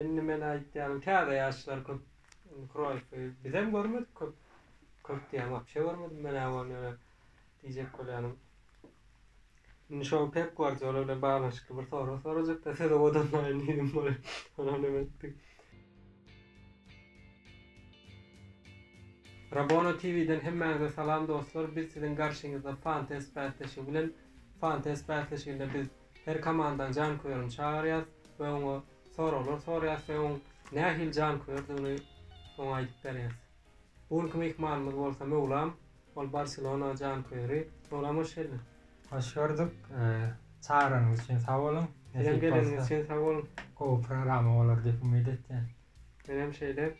Indi men aýtýaryn täze ýaşlar köp indi Kroýffy bizem görmedik köp köp diýýän wapşe görmedim men-ä ony ýöne diýjek bolýanym indi şol Pep Guardiola bilen baglanyşykly bir sorag sorajakda siz owadanlaýyn diýdim bolýa onam neme etdi. Rabona TV-den hemmäňize salam dostlar biz siziň garşyňyzda fantes bäsleşigi bilen fantes bäsleşiginde biz her komandany janköýerini çagyrýas we oňa Soraglar soraýas we oň nähili janköýerdigini oňa aýdyp berýäs. Bu günki myhmanymyz bolsa Möwlam, ol Barselona janköýeri. Möwlam hoş geldiň. Hoş gördük. Çagranyňyz üçin sag boluň. Sizem geleniňiz üçin sag boluň. Gowy programa bolar diýip umyt etýän. Menem şeýle.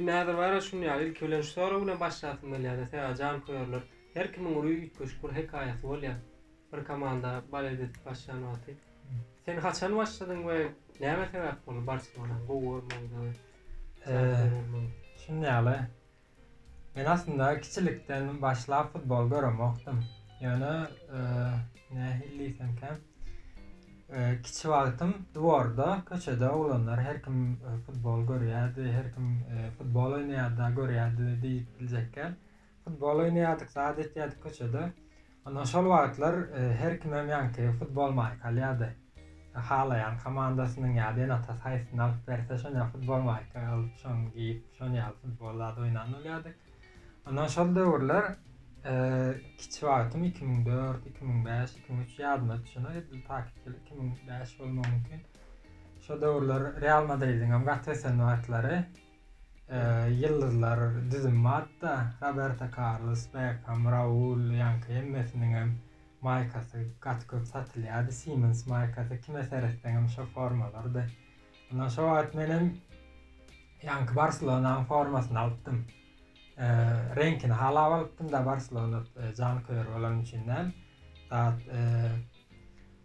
Näzir Baýraş şun ýaly ilki bilen şu sorag bilen başlasym gelýärdi, sebäbi janköýerler her kimiň uly üýtgeşik bir hekaýasy bolýar, bir komanda balet edip başlan wagty. Sen haçan başladyň we näme sebäp boldy Barselonany gowy görmegiňize we janköýer bolmagyňyza? Şun ýaly, men aslynda kiçilikden başlap futbol göremokdym. Ýöne Nähili diýseňkäm, kiçi wagtym dworda, köçede oglanlar her kim futbol görýärdi, her kim futbol oýnaýardy, görýärdi diýip biljekkä. Futbol oýnaýardyk, zat etýärdik köçede. Ondan şol wagtlar her kimem ýaňky futbol maýka alýardy. Halaýan komandasynyň ýa-da ene-atasy haýsysyny alyp berse, şonuň ýaly futbol maýka alyp, şony geýip, şonuň ýaly futbol zady oýnan bolýardyk. Ondan şol döwürler kiçi wagtym 2004, 2005, 2003 ýadyma düşenok, edil takyk ýyl 2005 bolmagy mümkin. Şol döwürler Real Madridiň hem gaty ösen wagtlary ýyldyzlar düzüm bardy-da, Roberto Carlos, Beckham, Raul, ýaňky hemmesiniň hem maýkasy gaty köp satylýardy, Siemens maýkasy, kime seretseň hem şo formalardy. Mundan şo wagt menem ýaňky Barselonanyň formasyny alypdym. E, reňkini halap alypdym da Barselona e, jan köýer bolan üçin näm. Zat e,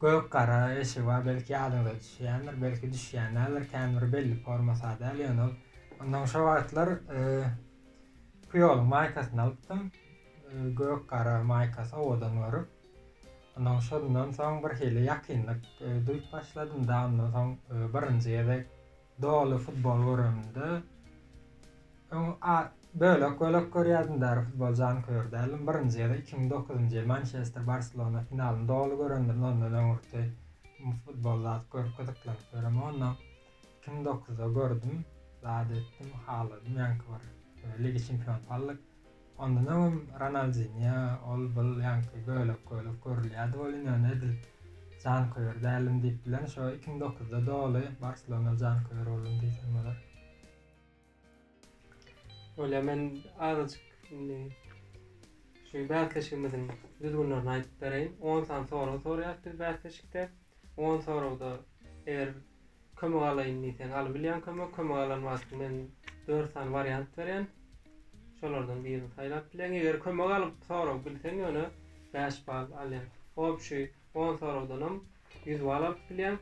gök gara eşigi bar, belki ýadyňyza düşýändir, belki düşýän däldir, kän bir belli forma sadäl ýöne ol. Ondan şo wagtlar e, Puyol maýkasyny alypdym. E, gök gara maýkasy owadan görüp. Ondan şondan soň birhili ýakynlyk duýup başladym-da, ondan soň birinji gezek doly futbol göremde, öň bölek-bölek görýärdim, bäri futbol janköýer däldim. Birinji gezek iki müň dokuzynjy ýyl Mançester, Barselona finalyny doly göremdim, ondan öňürti futbol zat görüp gyzyklanyp ýöremok. Ondan iki müň dokuzda gördüm, zat etdim, haladym, ýaňky bir Liga çempion pallyk. Ondan öňem Ronaldinýo, ol-bul, ýaňky bölek-bölek görülýärdi welin, ýöne edil janköýer däldim diýip bilen, şo iki müň dokuzda doly Barselona janköýer boldum diýsem bolar. Bolýar, men azajyk indi şu bäsleşigimiziň düzgünlerini aýdyp bereýin. On sany sorag sorýarys biz bäsleşikde. On soragda eger kömek alaýyn diýseň alyp bilýäň kömek, kömek alan wagty men dört sany wariant berýän. Şolardan birini saýlap bilýäň. Eger kömek alyp sorag bilseň ýöne bäş bal alýaň. Obşi on soragdanam ýüz bal alyp bilýäň.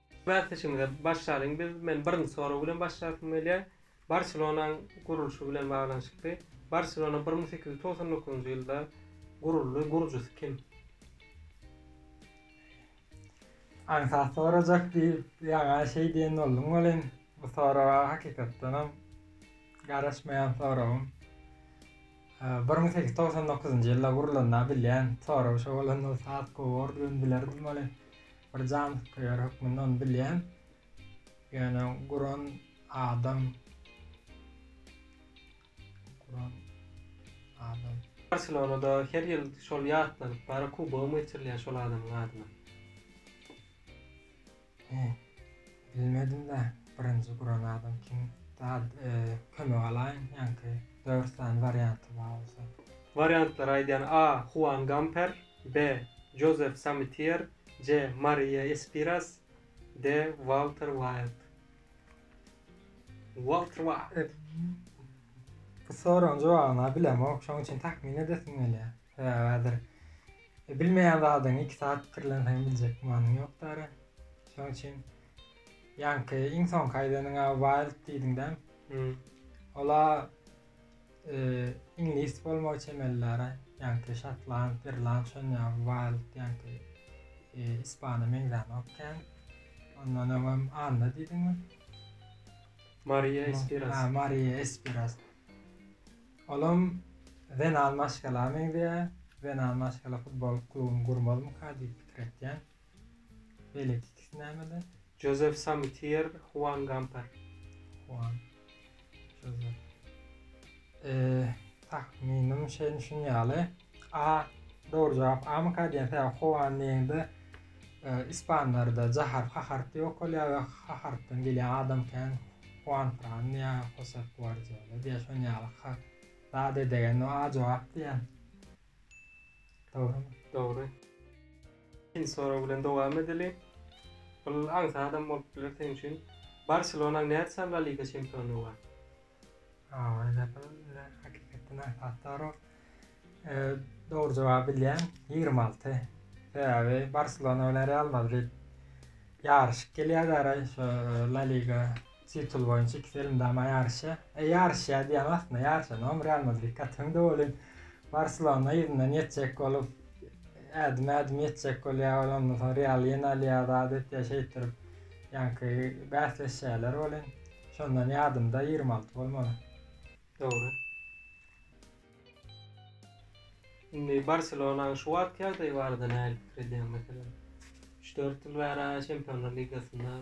Bäsleşigimize başlalyň biz. Men birinji sorag bilen başlasym gelýär. Barselonanyň gurulşy bilen baglanyşykly. Barselona bir müň sekiz ýüz togsan dokuzynjy ýylda guruldy. Gurujysy kim? Aňsat sorajak diýip, ýaňa şeý diýen bolduň welin, bu soraga hakykatdanam garaşmaýan soragym. Bir müň sekiz ýüz togsan dokuzynjy ýylda gurulanda bilýän, soragy şo bolan bolsa has gowy bordy, men bilerdim welin. Bir janköýer hökmünde ony bilýän. Ýöne guran adam guran adam. Barselonada her ýyl şol ýatlanyp bara kubogymy geçirilýär şol adamyň adyna. He. Bilmedim-de birinji guran adam kim? Dad, kömek alaýyn, ýaňky dört sany warianty bar bolsa. Wariantlar aýdýan A. Huan Gamper. B. Jozef Samitiýer, C. Mariýa Espiras, D. Walter Waýld. Walter Waýld. Bu soragyň jogabyny-a bilemok, şonuň üçin tahmin edesim gelýär. Sebäbi häzir bilmeýän zadyňy iki sagat pikirlenseň biljek gümanyň ýokdary. Şonuň üçin ýaňky iň soňky aýdanyňa Waýld diýdiň dämi? Ol-a Iňlis bolmagy çemellere, ýaňky şotland, irland şon ýaly wild ýaňky ispana meňzänok kän. Ondan öňem Anna diýdiňmi? Maria Espiras. Ha, Maria Espiras. Olam zenan maşgala meňzeýär. Zenan maşgala futbol klubuny gurmazmyka diýip pikir etýän. Beýleki ikisi nämede? Jozef Samitier, Huan Gamper. Huan. Jozef. Tahminim şeýle şun ýaly. A dogry jogap Amyka diýen sebäbi Huan diýende ispanlarda jahar haharty ýok bolýar we hahartdan gelýän adam kän Huan Fran ýa Josef Guardiola diýýär şon ýaly ha zat edegen A jogap diýýän. Dogrumy? Dogry. Ikinji sorag bilen dowam edeli. Ol aňsadam bolup biler seň üçin. Barselonanyň näçe La Liga çempiony bar? Ýa-da bu hakykatdan aňsat sorag. Dogry jogaby bilýän, ýigrimi alty. Sebäbi Barselona bilen Real Madrid ýaryşyp gelýärler-aý şu La Liga Titul boýunça iki sermydama ýaryşýa. E, ýaryşýa diýýän aslynda ýaryşanam Real Madrid gatyň de welin Barselona yzyndan ýetjek bolup, ädim-ädim ýetjek bolýar welin, ondan soň Real ýene alýar zat etýär şeýtdirip ýaňky bäsleşýärler welin, şondan ýadymda ýigrimi alty bolmaly. Dogry. Indi Barselonanyň şu wagtky ýagdaýy barada nähili pikir edýäň? Meselem, üç-dört ýyl bäri-ä Çempionlar ligasynda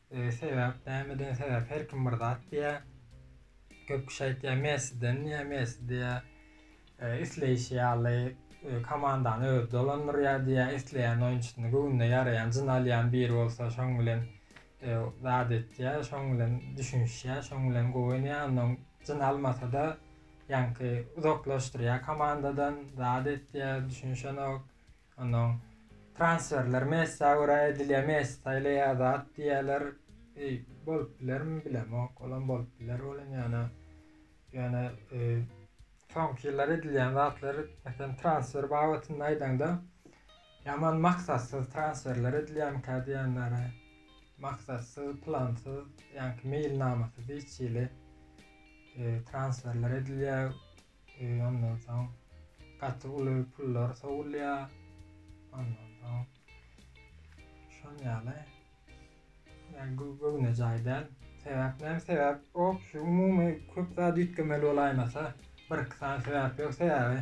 Sebäp nämeden sebäp her kim bir zat diýýä. Köp kişi aýtýar Messiden diýýä, Messi diýýä isleýşi ýaly komandany özi dolandyrýar diýýä, isleýän oýunçysyny göwnüne ýaraýan, jyn alýan biri bolsa şoň bilen zat etýär, şoň bilen düşünişýär, şoň bilen gowy oýnaýar, ondan jyn almasa-da ýaňky uzaklaşdyrýar komandadan, zat etýär, düşünişenok. Onnoň transferler Messä görä edilýär, Messi saýlaýar zat diýýärler. Eý, bolup bilermi bilemok, olam bolup biler welin ýöne ýöne e, soňky ýyllar edilýän zatlar, meselem transfer babatynda aýdaňda, ýaman maksatsyz transferler edilýärmikä diýenlere, maksatsyz, plansyz, ýaňky meýilnamasyz hiç hili e, transferler edilýär. Ondan soň gaty uly pullar sowulýar. Ondan soň şol ýaly. Yani bu göwne jaý däl. Sebäp näme sebäp? O şu umumy köp zat üýtgemeli bolaýmasa, bir iki sany sebäp ýok sebäbi.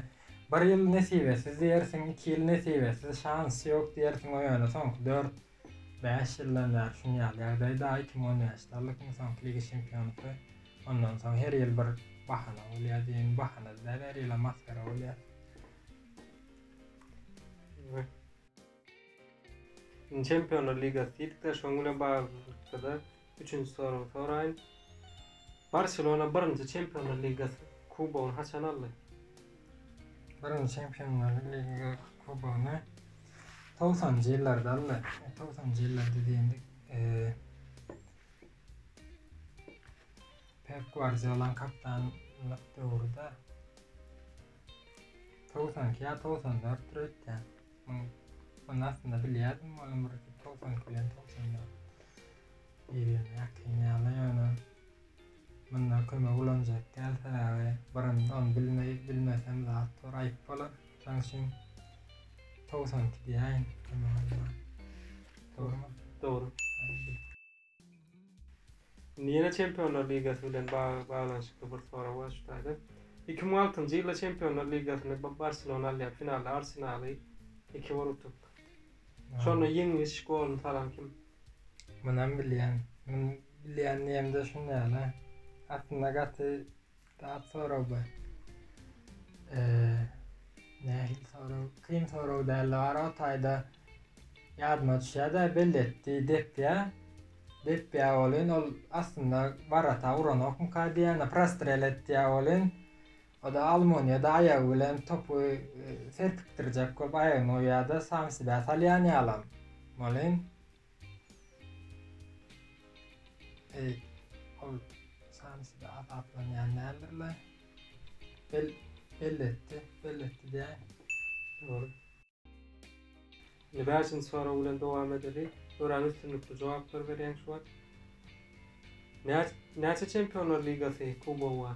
Bir ýyl nesibesiz diýersiň, iki ýyl nesibesiz, şans ýok diýersiň o ýöne soňky dört Bäş ýyldan bäri şuny ýaly ýagdaý da iki mü on bäş dollarlyk iň soňky liga çempionlykda ondan soň her ýyl bir bahana bolýa diýen bahana da däl her ýylam masgara bolýa. Indi çempionlar ligasy diýdik de şoň bilen baglylykda da Üçünji soragyňy soraýyn. Barselona birinji Çempionlar ligasy kubogyny haçan aldy? Birinji Çempionlar liga kubogyny togsanjy ýyllarda aldy. Togsanjy ýyllarda diýendik. Pep Guardiolanyň kaptanlyk döwrüde 92 ýa 94 dörtdür öýtýän. Ony aslynda bilýärdim, onuň bir togsan kilo, togsan ýa ýüz ýene ýakyn ýaly, ýöne munda kömek ulanjak däl, sebäbi birinji ony bilmeý, bilmesem zat bar, aýyp bolar. Şonuň üçin togsan iki diýäýin kömek almaga. Dogrumy? Dogry. Ýene Çempionlar ligasy bilen baglanyşykly bir sorag bar şu taýda. Iki müň altynjy ýylda Çempionlar ligasyny Barselona alýar, finalda Arsenaly iki bir utup. Şonda ýeňiş goluny salan kim? Munam bilýän. Muny bilýän diýemde şuny ýaly. Aslynda gaty Dap sorag bu. Eee, nähili sorag? Kyn sorag däl, bar o taýda ýadyma düşýär-de, beletdi, depýä. Depýä welin ol aslynda warata uranokmyka diýýän, prostrel etýä welin, o-da almoniýada aýagy bilen topy serpikdirjek bolup aýagyny goýýar-da, samsibä salýan ýalam. Welin, Eý, ol sansyda azaplanýan däldir-le? Bel, belletdi, belletdi diýäýiň. Dogry. Indi bäşinji sorag bilen dowam edeli. Örän üstünlikli jogaplar berýäň şu wagt. Näçe Çempionlar ligasy kubogy bar?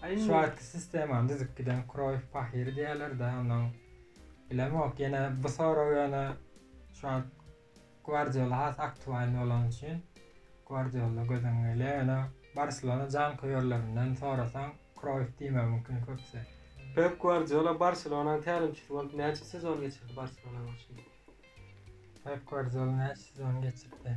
Şu wagtky sistemany düzüp giden Kroýf pahyr diýerler-dä onuň. Bilemok, ýene bu sorag ýöne şu wagt Gwardiola has aktualny bolany üçin Gwardiola göz öňüňe gelýär, ýöne Barselona janköýerlerinden sorasaň Kroýf diýmegi mümkin köpüsi. Pep Gwardiola Barselonanyň tälimçisi bolup näçe sezon geçirdi Barselona garşy? Pep Gwardiola näçe sezon geçirdi?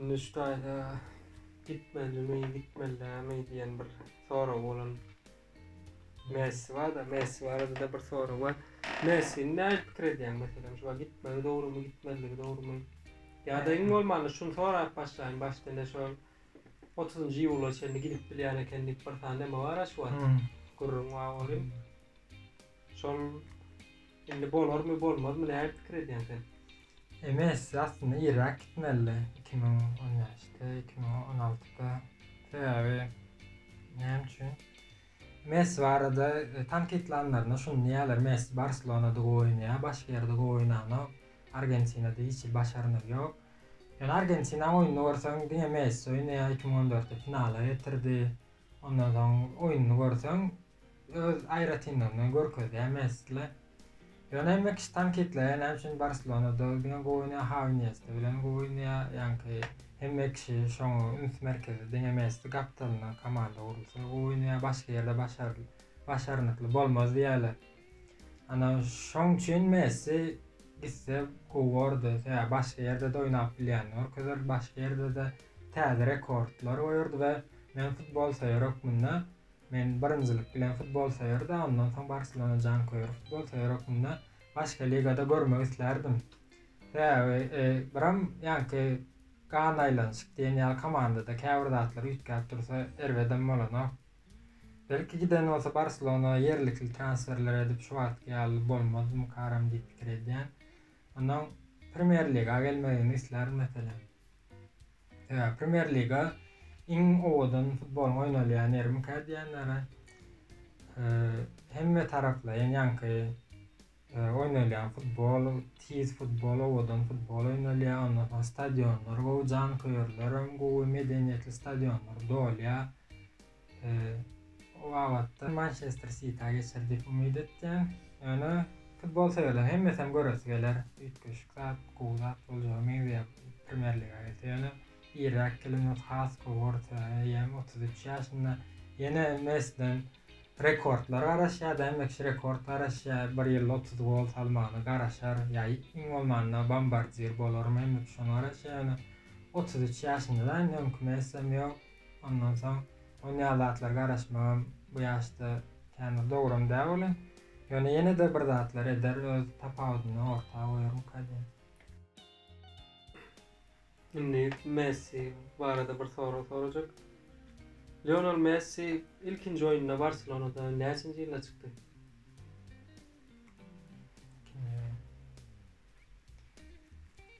Indi şu taýda gitmelimi, gitmelidämi diýen bir sorag bolan Messi bar-da, Messi barada-da bir sorag bar. Messini nähili pikir edýäň? Meselem, şuwagt gitmegi dogrumy, gitmezligi dogrumy? Ýa-da iň bolmanda şuny sorap başlaýyn, başda ine şu otuzynjy iýula çenli gidip bilýän eken diýip bir sany neme bar-a şu wagt. Gürrüň bar olim. Şol indi bolarmy bolmazmy näme pikir edýäň sen? Messi aslynda irräk gitmelidi iki müň on bäşde iki müň on altyda sebäbi näme üçin Messi barada e, tankytlanlarynda şuny diýýärler Messi Barselonada gowy oýnaýar başga ýerde gowy oýnanok Argentinada hiç hili başarnygy ýok ýöne Argentina oýnuny görseň diňe Messi oýnaýar iki müň on dörtde finala getirdi ondan soň oýnuny görseň Öz aýratynlygyny görkezýär Messi-le. Ýöne Mekiş tankytlaýar näme üçin Barselonada diňe gowy oýnaýar, Hawi Iniesta bilen gowy oýnaýar, ýaňky hem Mekişi şoňa üns merkezi diňe Messi gapdalynda komanda gurulsa gowy oýnaýar, başga ýerde başarly başarnykly bolmaz diýýärler. Ana şoň üçin Messi gitse gowy bordy, sebäbi başga ýerde-de oýnap bilýänini görkezerdi, başga ýerde-de täze rekordlar goýardy we men futbol söýer hökmünde Men birinjilik bilen futbol söýerdi, ondan soň Barselona janköýer futbolsöýer hökmünde başga ligada görmek islärdim. Sebäbi biram ýaňky Gan aýlanyşyk diýen ýaly komandada käbir zatlar üýtgäp dursa erbedem bolanok. Belki giden bolsa Barselona ýerlikli transferler edip şu wagtky ýaly bolmazdymykaram diýip pikir edýän. Ondan Premýer Liga gelmegini islär meselem. Sebäbi Premýer Liga iň owadan futbolyň oýnalýan ýermikä diýenlere hemme taraplaýyn ýaňky oýnalýan futbol, tiz futbol, owadan futbol oýnalýar. Ondan soň stadionlar gowy, janköýerlerem gowy, medeniýetli stadionlar dolýar. O babatda Mançester Siti-ä geçer diýip umyt etýän. Ýöne futbol söýerleriň hemmesem göresi geler, üýtgeşik zat, gowy zat boljaga meňzeýär Premýer Liga gelse. Ýöne irräk gelen bolsa has gowy borçaga eýämi, otuz üç ýaşynda. Ýene Messiden rekordlar garaşýar, däme kişi rekord garaşýar, bir ýylda otuz gol salmagyna garaşar. Ýa iň bolmanda bombardir bolarmy, däme kişi şoňa garaşýar. Ýöne otuz üç ýaşynda-da indi öňki Messem ýok. Ondan soň onýaly zatlara garaşmagam bu ýaşda kän bir dogrum däl welin, ýöne ýene-de bir zatlar eder, öz tapawudyny orta goýarmyka diýen. Indi Messi barada bir sorag sorajak. Lionel Messi ilkinji oýnuna Barselonada näçenji ýylda çykdy? Ilkinji oýun.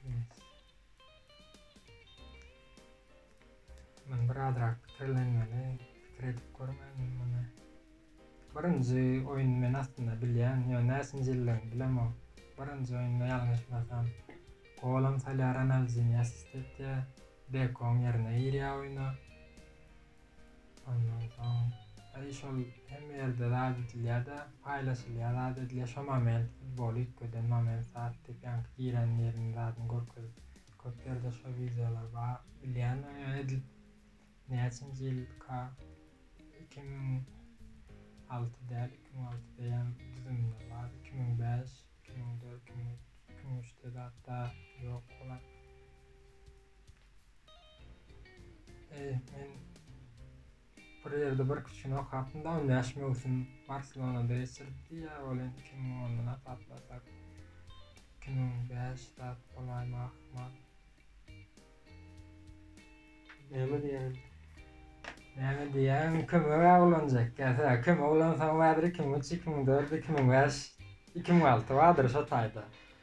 Messi. Men bir azrak pikirlenmeli pikir edip görmedim muny. Birinji oýun men aslynda bilýän, ýöne näçinji ýyldygyny bilemok. Birinji oýunda ýalňyşmasam golam salýar Ronaldinýo assist etýär, Bekom ýerine girýär oýna. Ondan soň eý şol hemme ýerde zat edilýärde paýlaşylýar zat edilýär şo moment futbol üýtgeden moment zat diýip ýaňky giren ýerini zadyny görkezip köp ýerde şo wideolar bar bilýändirin ýöne edil näçinji ýylka iki müň alty däl iki müň altyda ýam düzüminde bar iki müň bäş iki müň dört iki müň üç iki müň üçde zatda ýok bolan. Eý, men bir ýerde bir kiçini okapdym da, on bäş möwsüm Barselonada geçiripdi, ýa ol indi iki müň ondan hasaplasak, iki müň bäş zat bolaýma ahmal. Näme diýýäň? Näme diýýäň? Kömege ulanjak gelse, kömege ulansaň häzir iki müň üç, iki müň dört, iki müň bäş, iki müň alty bardyr şo taýda.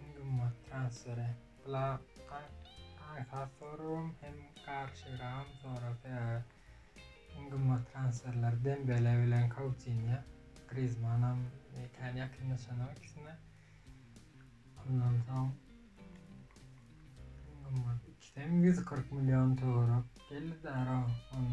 Iň gymmat transferi Blakga aňsat soragym hem garşyragym sorar sebäbi iň gymmat transferler Dembele bilen Koutinýo, Grizmanam kän ýakynlaşanok ikisine. Ondan soň iň gymmat ikisem ýüz kyrk million töwerek geldi Daro on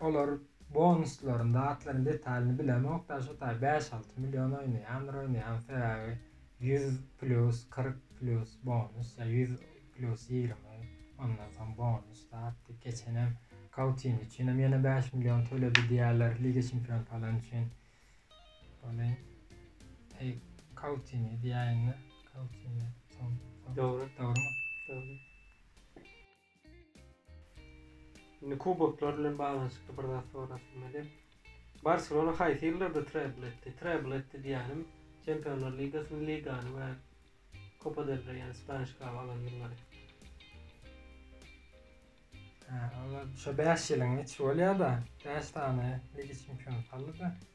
Olar bonuslaryny zatlaryny detalyny bilemok da şu taý bäş alty million oýnaýandyr oýnaýan sebäbi ýüz plýus kyrk plýus bonus ýa ýüz plýus ýigrimi ondan soň bonus zat diýip geçenem kautini üçinem ýene bäş million töledi diýýärler liga çempion falan üçin ony eý kautini diýäýinda kautini soň dogry dogrymy dogry Indi kuboklar bilen baglanyşykly bir zat sorap bilmeliyem. Barselona haýsy ýyllarda treble etdi? Treble etdi diýýänim, Çempionlar ligasyny, ligany we Copa del Rey, ýagny Spaniş kaby alan ýyllary. Hä, olar şo bäş ýylyň içi bolýar-da. Bäş sany Liga çempionat aldy-da.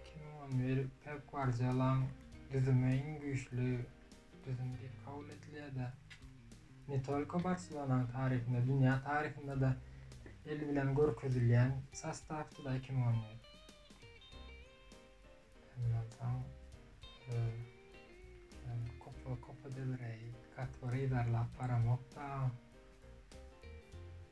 Iki müň on bir Pep Guardiolaň düzümi iň güýçli düzüm diýip kabul edilýär-de, ne tolko Barselonanyň taryhynda, dünýä taryhynda-da el bilen görkezilýän sostawdy-da iki müň on bir. Şondan soň Kopa-Kopa del Reý, Katwary yzarlap baramok-da.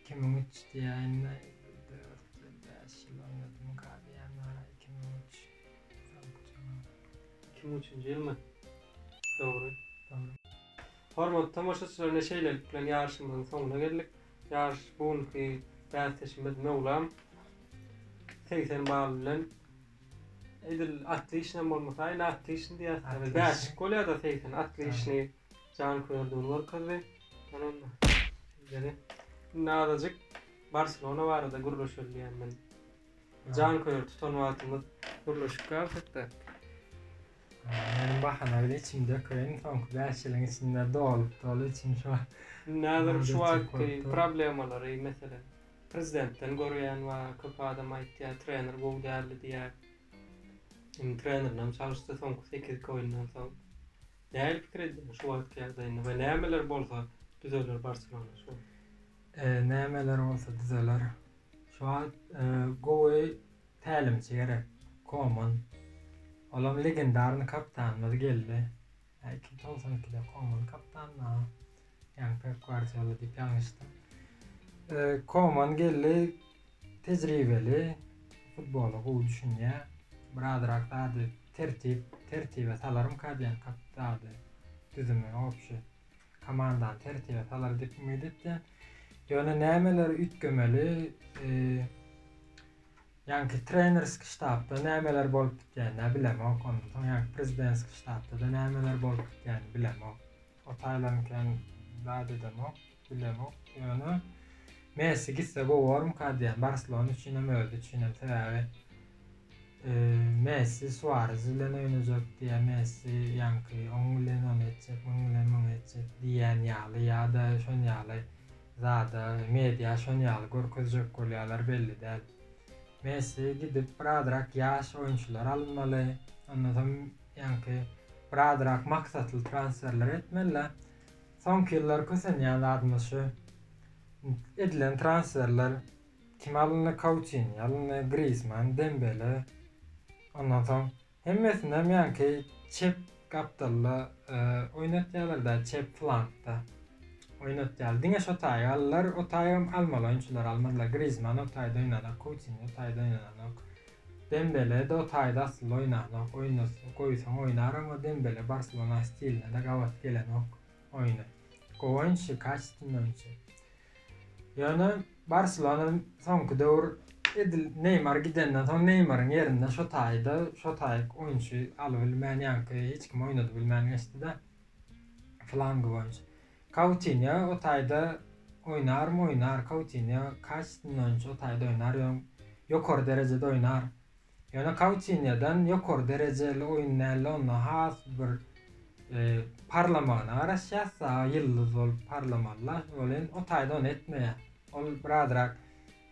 Iki müň üç diýäýin-le, dört ýyl, bäş ýyl oýnadym, galýan-a, iki müň üç. Dogry jogap. Iki müň üçünji ýylmy? Dogry. Dogry. Hormatly tomaşaçylar ine şeýlelik bilen ýaryşymyzyň soňuna geldik. Ýaryş bu günki bäsdeşimiz Möwlam segsen bal bilen edil atlyşynam bolmasa, ine atlyşyn diýýäs. Bäşik bolýar-da segsen atlyşyny. Janköýerdigini görkezdi. Ýöne onda şeýledi. Indi azajyk Barselona barada gürleşeli diýýän men. Janköýer tutan wagtymyz gürleşip galsak-da. Meniň bahana bile içimi dökeýin, soňky bäş ýylyň içinde doly-doly içim şu wagt. Indi häzir şu wagtky problemalary, meselem, prezidentden görýän bar, köp adam aýtýar, trener gowy däldi diýýär. Indi trenerini hem çalyşdy soňky sekizki oýundan soň. Däli pikir edýän şu wagtky ýagdaýyny we nämeler bolsa düzeler Barselona şu wagt. Nämeler bolsa düzeler şu wagt gowy tälimçi gerek Koman olam legendarny kaptanymyz geldi iki togsan ikide Koman kaptanynda Yani Pep Guardiola diýip ýalňyşdyň. E, Koman geldi tejribeli, futbola gowy düşünýär. Birazrak zady tertip, tertibe salarym kadýan kap zady düzümi obşi. Komandany tertibe salar diýip umyt etýän. Ýöne nämeleri üýtgemeli? E, Ýanki trenerski ştabda nämeler bolup gitýänini bilemok. Ondan soň ýanki prezidentski ştabda da nämeler bolup gitýänini bilemok. O Taýlan kän zat edemok, bilemok. Ýöne Messi gitse gowarmyka diýýän. Barselona üçinem, özi üçinem. Sebäbi Messi Suarez bilen oýnajak diýýär. Messi ýaňky oň bilen ony etjek, muň bilen muny etjek diýýän ýaly ýa-da şon ýaly zada media şon ýaly görkezjek bolýarlar belli däl. Messi gidip birazrak ýaş oýunçylar alynmaly. Ondan soň Ýaňky bir azrak maksatly transferler etmeli-dä. Soňky ýyllar kösenýän zadymyz şu. Edilen transferler, kim alyndy, Kautini alyndy, Grizman, Dembele. Ondan soň hemmesinem ýaňky çep gapdalda oýnatýarlar-da, çep flankda oýnatýarlar. Diňe şo taýy aldylar, o taýy hem almaly oýunçylary almadylar. Grizman o taýda oýnanok, Kautini o taýda oýnanok. Dembele, Do taýda aslynda oýnanok, oýnatsa goýsaň oýnar emma Dembele Barselona stiline-de gabat gelenok oýny. Gowy oýunçy, kaçeственny oýunçy. Ýöne Barselona soňky döwür edil Neýmar gidenden soň Neýmaryň ýerine şo taýda şo taýyk oýunçy alybilmän ýaňky hiç kim oýnadybilmän geçdi-de. Flangy boýunça. Koutinýo o taýda oýnarmy oýnar Koutinýo kaçstin oýunçy o taýda oýnar ýöň ýokary derejede oýnar ýöne Koutinýodan ýokary derejeli oýun dälde onda has bir parlamagyna garaşýas saga ýyldyz bolup parlamalyda ol indi o taýda ony etmeýär ol birazrak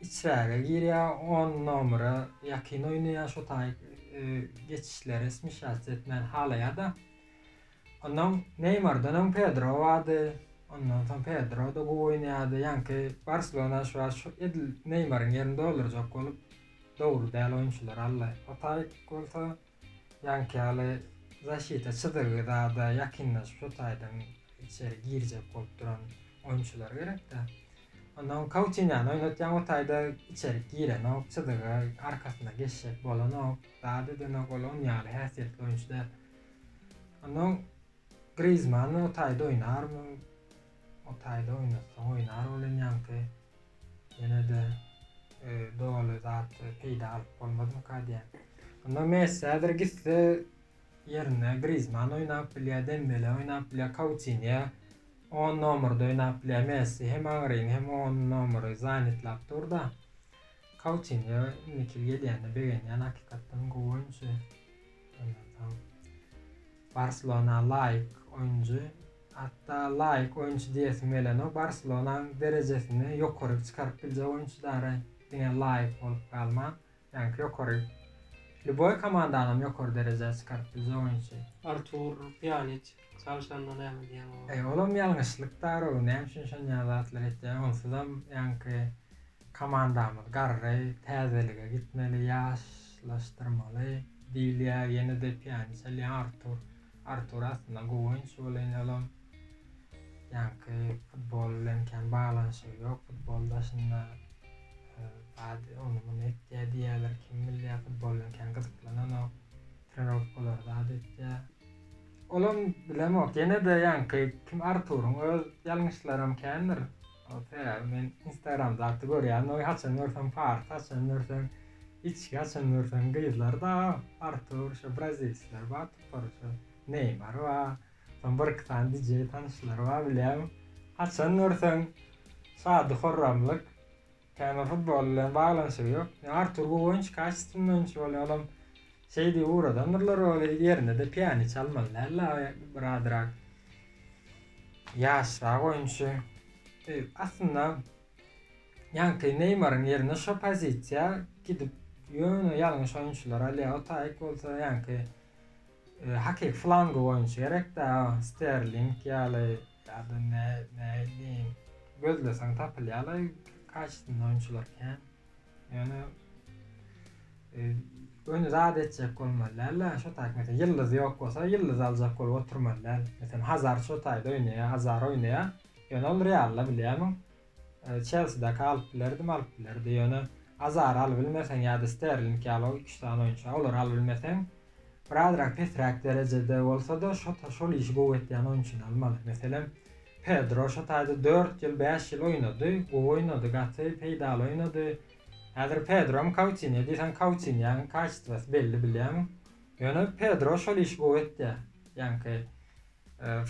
içräge girýär on nomere ýakyn oýnaýar şo taý geçişlere smişatsiýa etmäni halaýada Onnoň Neýmardan öň Pedro bardy. Ondan soň Pedro-da gowy oýnaýardy. Ýaňky Barselona şu wagt şu edil Neýmaryň ýerini doldurjak bolup dogry däl oýunçylary aldy. Otaý bolsa ýaňky ýaly zaşita çyzygy zada ýakynlaşyp şu taýdan içeri girjek bolup duran oýunçylar gerekdä. Onnoň Kautiniany oýnatýaň otaýda içerik girenok, çyzyga arkasyna geçjek bolanok, zat edenok ol on ýaly häsiýetli oýunçy däl. Onnoň Grizmann o taýda oýnarmy? O taýda oýnatsaň oýnar ol enýaňky. Ýene-de doly zat peýda alyp bolmazmyka diýýän. Onda Messi häzir gitse ýerine Grizmann oýnap bilýär, Dembele oýnap bilýär, Kautiniýa on nomerda oýnap bilýär. Messi hem aňryny hem on nomery zanýetlap dur-da. Kautiniýa indiki ýyl gelýänine begenýän hakykatdan gowy oýunçy. Aýansaň, Barselona laýyk oýunjy, hatda laýyk oýunçy diýesim gelenok. Barselonaň derejesini ýokaryk çykaryp biljek oýunçy dara diňe laýyk bolup galman. Ýaňky ýokary, lýuboý komandanam ýokary derejä çykaryp biljek oýunçy. Artur Pýaniç çalyşanda näme diýen oňa? Eý, olam ýalňyşlyk dara, näme üçin şonýa zatlar etýäň? Onsuzam ýaňky Komandamyz garry, täzelige gitmeli, ýaşlaşdyrmaly diýilýär, ýene-de piýany çalýan Artur. Artur aslynda gowy oýunçy welin olam ýaňky futbol bilen kän baglanyşygy ýok, futbol daşynda zat ony-muny etýär diýýärler, kim bilýär, futbol bilen kän gyzyklananok, trenirowkalary zat etýär. Olam bilemok, ýene-de ýaňky kim Arturyň öz ýalňyşlaram kändir, Otyrýar men instagramda gaty görýän oý haçan görseň party haçan görseň içki haçan görseň gyzlar daga artur şo brazilsler bar topar şo neýmar bar soň bir iki sany DJ tanyşlar bar bilýän haçan görseň şady horramlyk kän bir futbol bilen baglanyşygy ýok artur gowy oýunçy kaşystwny oýunçy bolýar olam Şeýdip ugradandyrylar ony, ýerine-de piýano çalmaly däl dagy, bir azrak ýaşrak oýunçy. Aslynda ýaňky Neýmaryň ýerine şo pozisiýa gidip ýöne ýalňyş oýunçylary alýar. Otaýik bolsa ýaňky hakyky flangowy oýunçy gerek dagy, Sterling ýaly ýa-da näme diýeýin, gözleseň tapylýarlaý karşysynda oýunçylar kän. Ýöne öni zat etjek bolmaly däl da şo taýk mesela ýyldyz ýok bolsa ýyldyz aljak bolup oturmaly däl mesela hazar şo taýda oýnaýa azar oýnaýa ýöne ol realda bilýämiň çelside kalyp bilerdi malyp bilerdi ýöne azar alyp bilmeseň ýa-da sterling ýaly o iki-üç sany oýunçy olar alyp bilmeseň birazrak pesräk derejede bolsa-da şo şol işi gowy etýän oýunçyny almaly meselem Pedro şo taýda dört ýyl bäş ýyl oýnady, gowy oýnady, gaty peýdaly oýnady. Häzir Pedrom Kautiniýa diýseň Kautiniýaň kaçtwasy belli bilýäň. Ýöne Pedro şol işi gowy etýär. Ýaňky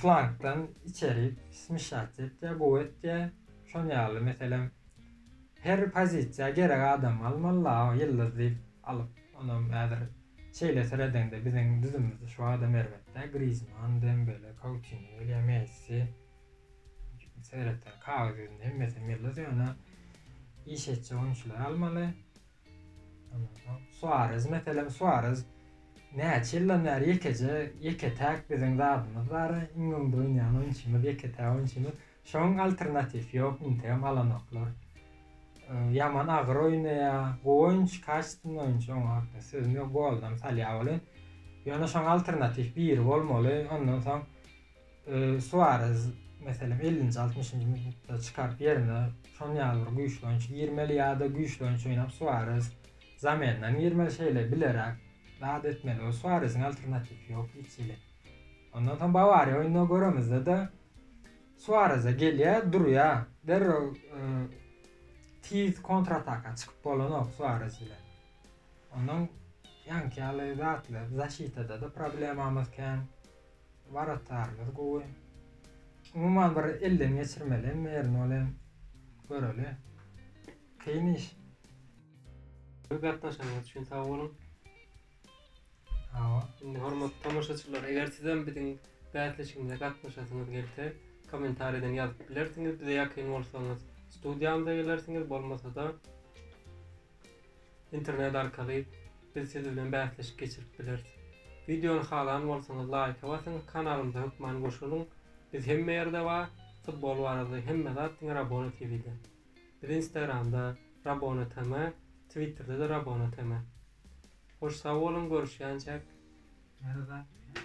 flankdan içeri smişatsiýa etýär, gowy etýär. Şon ýaly meselem her pozisiýa gerek adam almaly-la ýyldyz diýip alyp onam häzir Şeýle seredeňde biziň düzümimize şu adam erbet-dä, Grizman, Dembele, Kautino gelýär, Messi. Seretseň kagyz ýüzünde hemmesem ýyldyz, ýöne iş etjek oýunçylary almaly. Ondan soň Suarez, meselem, Suarez näçe ýyldan bäri ýekeje, ýeke-täk biziň zadymyz bar, iň öňde oýnaýan oýunçymyz, ýeke-täk oýunçymyz. Şoň alternatif ýok integem alanoklar ýaman agyr oýnaýa goýunç kaştyn oýunç oň hakda sözüm ýok goldam salýa weli ýöne şoň alternatif biri bolmaly ondan soň suarez meselem ellinji altmyşynjy minutda çykaryp ýerine şon ýaly bir güýçli oýunç girmeli ýa-da güýçli oýunç oýnap suarez zamendan girmeli şeýle bileräk zat etmeli suareziň alternatif ýok hiç hili. Ondan soň Bawariýa oýnuna göremizde-de, Suarez-e gelýär, durýar. Derrew tiz kontrataka çykyp bolanok Suarez bilen. Onuň ýaňky ýaly zatlar, zaşitada-da problemamyz kän. Waratdarymyz gowy. Umuman bir elden geçirmeli hem birini ol hem göreli. Kyn iş. Gepleşigiňiz üçin sag boluň. Indi hormatly tomaşaçylar eger sizem biziň bäsleşigimize gatnaşasyňyz gelse komentarýadan ýazyp bilersiňiz bize ýakyn bolsaňyz studiýamyza gelersiňiz bolmasada internet arkaly biz siz bilen bäsleşik geçirip bileris wideony halan bolsaňyz laýka basyň kanalymyza hökman goşulyň biz hemme ýerde bar futbol barada hemme zat diňe rabona tvde biz instagramda rabona tm twitterde-de rabona tm. Hoş sag boluň görüşýänçäk. Näme zat bu ýa.